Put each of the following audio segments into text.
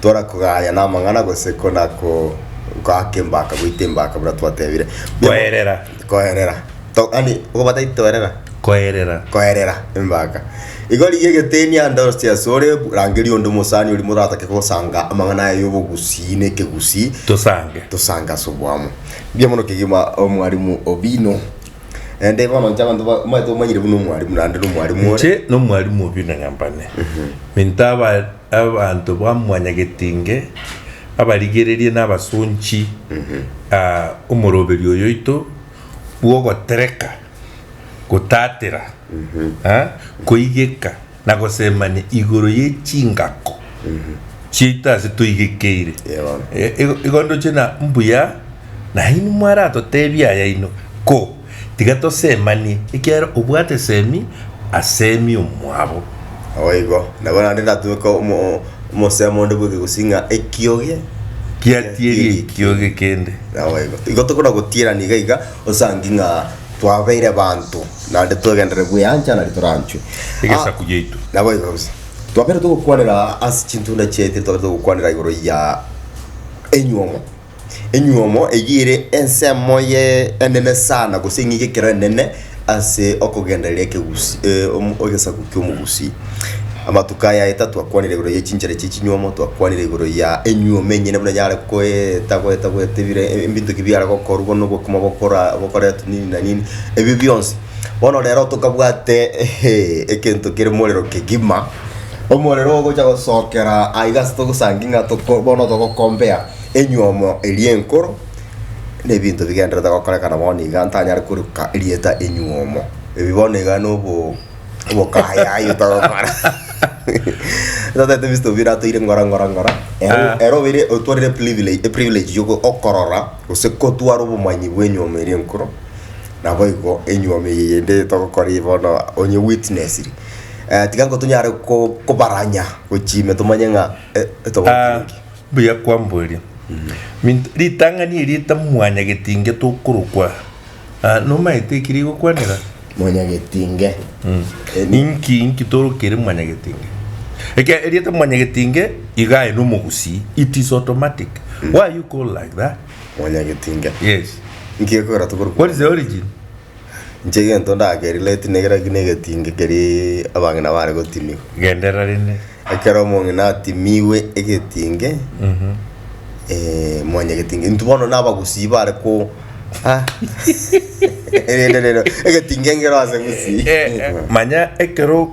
Tora kogaya namang'ana gose kona ko goaka embaka goita embaka buna twatebire. Koerera. Koerera. To, yani okobataiti toerera. Koerera. Koerera embaka. Igo rigia egeteni ande orosie ase ore bu- rangeria onde omosani ori moratake gosanga amang'ana aye y'obogusii na ekegusii Tosange. tosange ase oboamo. Mbuya mono kegima omwarimu Obino. Naende bono inche abanto ba- omanyete omanyire buna omwarimu naende na omwarimu ore. Inche nomwarimu Obino Nyambane. Minto aba Abanto ba mwanyagetinge, abarigererie na abasonchi a omoroberio oyoito bw'ogotereka, gotatera, koigeka na gosemania igoro ye chingako chiaito ase toigekeire. Igo ndoche na mbuya nainwe mwaratotebia ayaino, ko. Tiga tosemanie, ekiagera obwate semi asemi omwabo. Naboigo, nabo naende ndatweka omosemo onde bweka gose ng'a ekioge kiatieri ekioge kende. Naboigo, igo tokona gotierania iga iga osangi ng'a twabeire banto naende twegenderere bweancha nari toranchwe. Egesaku giaito. Naboigo kabisa. Twabeire togokwanera ase chintunda chiaito twabeire togokwanera igoro ya enywomo. Enyuomo eyio ere ensemo ye enene sana gose eng'ige ekero enene ase okogendereria ekegusi egesaku ki'omogusi. Amatuko aya aye tatwakwanire igoro ye chinchera chie chinyuomo, twakwanire igoro ya enyuomo enyene buna yare goeta goeta goeta ebire ebinto ki biare gokorwa bono obokima bokora bokoretwa nini na nini, ebio bionsi. Bono rero tokabwate egento kere morero kegima, omorero ogocha gosokera aiga ase togosangi ng'a toko bono togokombea. enywomo eria enkoro, nebinto bigendererete gokorekana bono iga ntanyare koreka erieta enywomo. Ebi bono iga na obo obokayayi otagokora. Totaete Mister Obina atoire ngora ngora ngora. Ere Ah. ere obeire otwarire privilege eprivilege ya oko- okorora gose kotwara obomanyi bwa enywomo eria enkoro. Naboigo enywomo eye yende togokora eye bono onye owitnessiri, tiga intwe tonyare ko- kobaranya gochia ime tomanye ng'a eh, Ah. Mbuya kwamboria. Minto, ritang'ani eri rita Mwanyagetinge tokorokwa. Ah, nomaete eki rigokwanera? Mwanyagetinge. Eri- Inki inki torokere Mwanyagetinge? Eke erieta Mwanyagetinge iga aye nomogusii. It is automatic. Why you call like that? Mwanyagetinge. Yes. Inki ekorera tokorokwa? What is the origin? Inche egento ndakerirwe tinekera ki negetingi keri abang'ina bare gotimigwa. Genderera rende. Ekero omong'ina atimigwe egetingi, eh, mwanyaa egetingi. Intwe bono na abagusii bare ko ah, rende rero, egetingi engero ase gusii. Manya ekero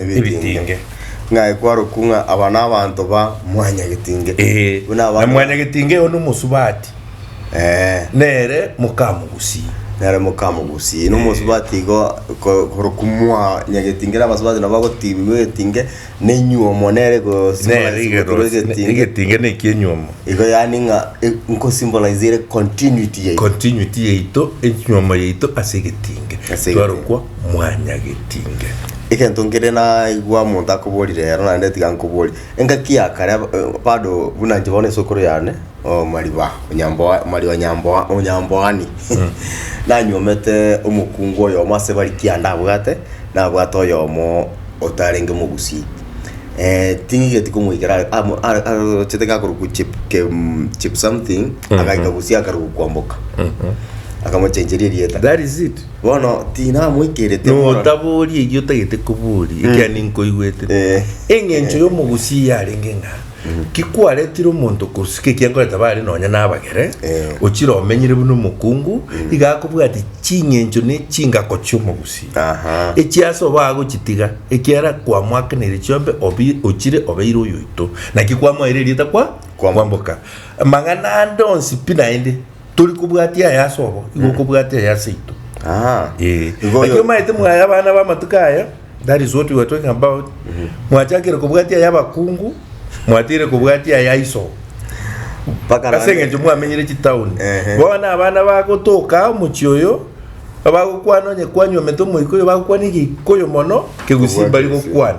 ebitinge. Ng'ai kwarokwu ng'a aba nabanto ba mwanyagetinge? Ee, Buna na abanto- mwanyagetinge eye one omosubati, Eh, nere mokamogusii. nere mokamogusii na omosubati igo ko- korokwu mwanyagetinge na abasubati nabo bagotirimwa egetinge na enyuomo nere Nere rigerosia, egetinge egetinge na ekienyuomo. igo yaani ng'a e- nkosymbolize ere continuity yaito. Continuity yaito, enyuomo yaito ase egetinge. Ase egetinge. Twarokwa mwanyagetinge. Egento nkere naigwa monto akobori rero naende tiga nkobori, engaki ya kare bado buna inche bono esukuru yane omariba onyamboa omariba nyamboa onyamboani nanywomete omokungu oyomo ase bari kianda ndabwate, nabwate oyomo otarenge mogusii ting'igeti komoikera are amo are arochete gakorokwa chip kem chip something agaika gusii akaruga kwamboka akamochencheria erieta. Bono tinamoikerete mono. Notabooria erio otagete kobooria, ekiagera ninkoigwete. Eh. Engencho y'omogusi eye yarenge ng'a kikwaretire omonto kosika ekiankore tabare nonya nabagere, Eh. ochire omenyire buna omokungu, iga akobwatia chingencho na echingako chi'omogusi. Aha. Echi ase obo agochitiga, ekiagera kwamoakeneire chiombe obi- ochire obeire oyoito. Naki kwamoeire erieta kwa Kwamboka. kwamboka. Amang'ana ande onsi pi naende tori kobwatia aya ase obo igo mm. okobwatia aya ase ito ah. eh. lakini omaete mwaya abana b'amatuko aya that is what we are talking about mm-hmm. mwachakire kobwatia aya abakungu mwatire kobwatia aya iso ase eng'encho mwamenyire chitauni bono abana bagotoka omochie oyo bagokwana onye kwanywa omete omoika oyo bagokwana egikoyo mono kegusimbari gokwana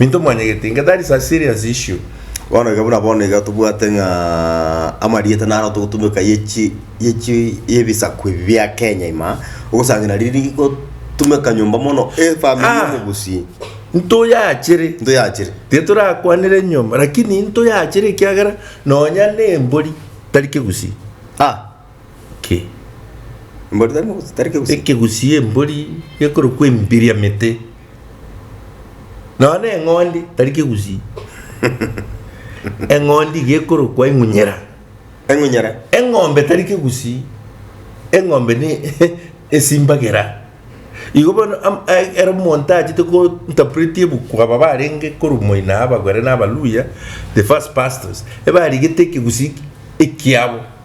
Minto mwanyegete, inga that is a serious issue. Bono iga buna bono iga tobwate ng'a amarieta naro togotumeka ye chi ye chi ye bisaku ebi bia Kenya ime ogosangira riri rigotumeka nyomba mono efamiri Ah! y'omogusii Ntoyachere. ntoyachire. Tiga torakwanere nyomba, lakini ntoyachere ekiagera nonya nembori tari kegusii. Ah! ki? Embori tari mogusi- tari kegusi. Ekegusii embori gekorokwa embiriamete. Nonya na eng'ondi tari kegusii. eng'ondi gekorokwa eng'unyera. Eng'unyera. Eng'ombe tari kegusii. Eng'ombe ne esimbagera. Igo bono am- e- ero omonto achete go interpreti ebuku aba barenge korwa moina abagwere na abaluhya, the first pastors, ebarigete ekegusii ekiabo.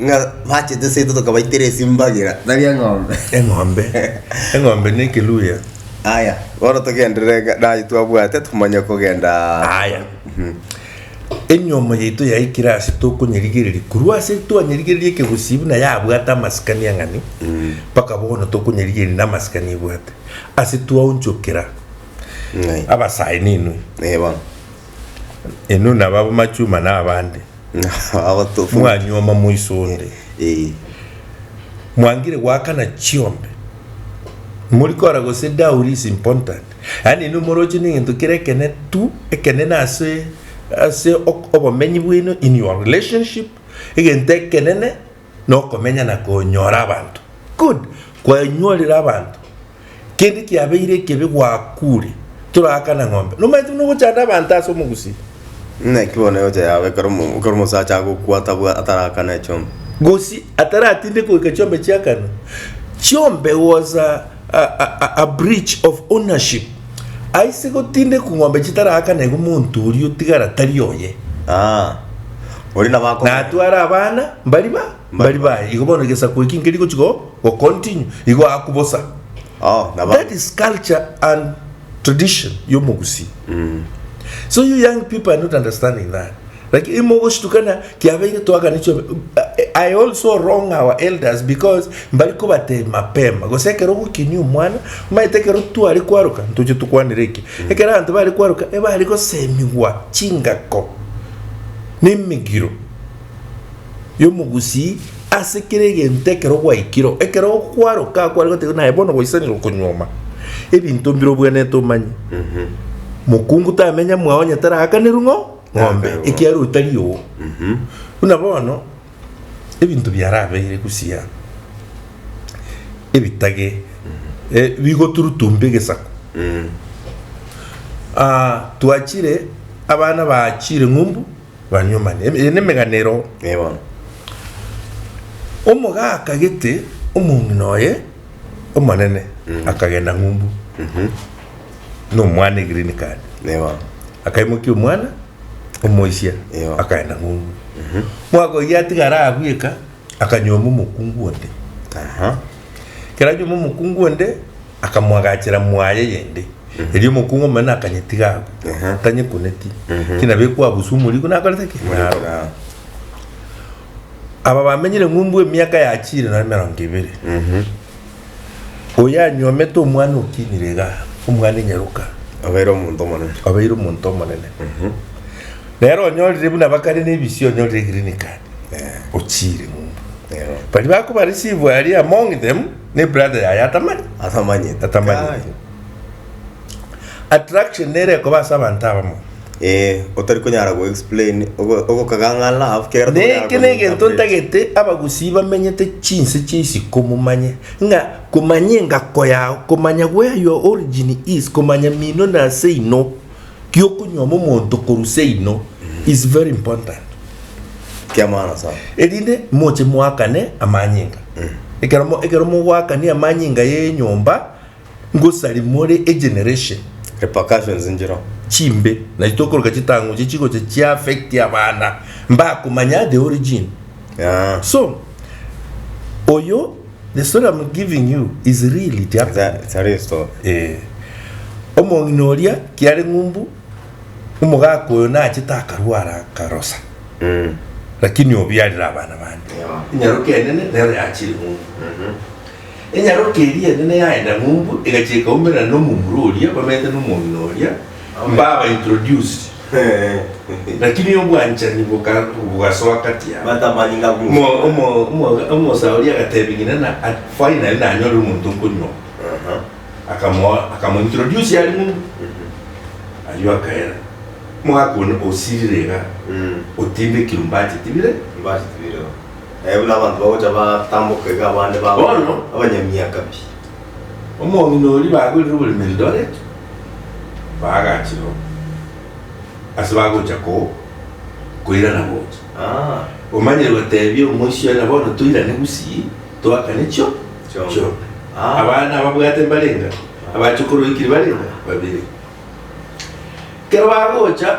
ng'a bachete seito tokabaitera esimbagera tari eng'ombe eng'ombe eng'ombe na ekeluya aya bono togenderere ng'a naye twabwate tokomanya kogenda aya enyomo yaito yaikire ase tokonyerigereria korwa ase twanyerigereria ekegusii buna yabwate amasikani ang'ani mpaka bono tokonyerigereria na amasikani ebwate ase twaonchokera Ng'ai. abasae ninwe Eh, bono inwe naba abamachuma na abande Abatofu. mwanyuoma moiso onde, Eh. mwangire goakana chiombe, morikora gose dowry is important, yaani inwe moroche negento kere ekene tu ekenene ase ase ok- obomenyi bwaino in your relationship egento ekenene Nokomenya na konyora abanto. Good. Kwanyorire abanto. Kende kiabeire ekebe gwakure. Toraakana ng'ombe. Nomanyete buna ogochanda abanto ase omogusii. Naki bono eocha yaabo ekero omo- ekero omosacha agokwa atabwa atarakana echiombe. Gosii ataratinde goika chiombe chiakanwa. Chiombe gosa. a breach of ownership aise gotindekwa ng'ombe chitaraakanegwe monto oria otigara tari oye Ah. Oria nabo ako. natwara abana mbari ba mbari baye igo bono egesaku eki nkeri gochi go go continue igo aku bosa Oh, nabo. that is culture and tradition y'omogusii so you young people are not understanding that Like imo ogoshitukana kiabeire twaganechwe I also wrong our elders because mbari kobatebia mapema gose ekero ogokenia omwana omanyete ekero tware kwaroka ntoche tokwanere eke ekero abanto bare kwaroka ebare gosemigwa chingako nemegiro yomogusii ase kera egento ekero gwaikire ekero kwaroka kware gotebiwa naye bono gwaisanire okonyuoma ebinto mbire obwenerete omanye mokungu tamenya mwao onye taraakanerwe ng'o ng'ombe Ng'ombe, ekiagera otari oo buna bono ebinto biarabeire gusii aa ebitage eh, bigoturutumba egesaku Ah, twachire abana bachire ng'umbu banywa mani eye nemegano ero Ee bono. omogaka gete omong'ina oye omonene akagenda ng'umbu na omwana egreen card Nigo. akaimokia omwana omoisia Iyo. akaenda ng'umbu mwaka oyio atigara abwo eka akanyoma omokungu onde Aha. ekero anyoma omokungu onde akamoagachera mwaye yende erio omokungu omonene akanyetiga abwo Aha. tanyekuneti ki nabo ekwabuswa omorigo nakorete ki Omorigo naroba. naroba. Aba bamenyire ng'umbu emiaka ya chire na emerongo ebere. Oyo anyuomete omwana okinire iga, omwana enyaruka, Abaire omonto omonene. obeire omonto omonene. Nero onyorire buna bakare na ebisio, onyorire green card, ochire ng'umbu. Nero. Bari bakoba receive aria among them, ne brother yaye atamari. Atamanyete. Atamanyete. Kai. Attraction nere ekoba ase abanto abamo. Eh, otari konyara go explain ogo- ogokagang'a love kegera Na tokonyara eke negento komi-interpret. ntagete abagusii bamenyete chinse chia isiko momanye ng'a komanya engako yao komanya where your origin is komanya mino na seino giokonyuoma omonto korwa seino is very important Kia maana sana. erinde moche moakane amanyinga ekero mo- ekero mogoakania amanyinga ya enyomba Ngosarimore egeneration repercussions njero chimbe nachi tokoroka chitang'uche chigocha chi affect abana mbakomanya the origin yeah. so oyo the story I'm giving you is real it happened it's a real story eh omong'ina oria kiare ng'umbu omogaka oyo nachete akarwara akarosa mm. lakini obiarire abana bande yeah. inyaroke enene nero yachire ng'umbu mm -hmm. Enyaroke eria enene yaenda ng'umbu, egachia ekaumerana nomomura oria bamenyete nomong'ina oria, mbaba introduced. Lakini obwanchani boka- bogasoa kati yabo. Batamani ng'a Omo- Musa. omo- omo- omosae oria agatebia ng'ina na at- finally nanyore omonto okonywa Aha. akamoa akamointroduce are ng'umbu ayio akaera omogaka one osirire iga Mm. otindekirwe mbacheti bire Mbacheti bireo. Eh, buna abanto bagocha batamboka iga abande ba Bono. abanyamiaka pi. Omong'ina oria bagwerire oborimo Eldoret, baagachire oo. Ase bagocha ko koirana gocha. Ah, Omanyire gotebia omoisia oye na bono toirane gusii, toakane chio Chio. chio. Ah. Abana ababwate mbarenga, abachokoro oikire barenga, babere. Kero bagocha,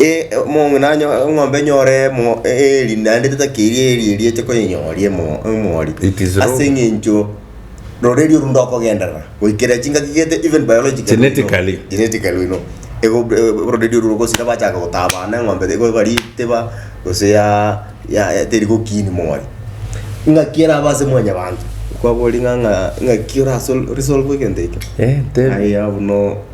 Ee, omong'ina nanyo eng'ombe enyore mo- eeri, naende ritakeri eeri eria eche koyenyooria emo- emori. It is wrong. Ase eng'encho roreri orwo ndokogenderera, goikera chingaki gete even biologically we know- Genetically. genetically we know, ego- e- ororeri orwo rogosira bachaka gotaa abana eng'ombe iga eba ritiba, gose ya- ya teri gokiini mori. Ng'aki erabe ase mwanyabanto, kwaboria ng'a- ng'a ng'aki orasol- resolve egento ekio? Eh, tebia. Aye abwo no.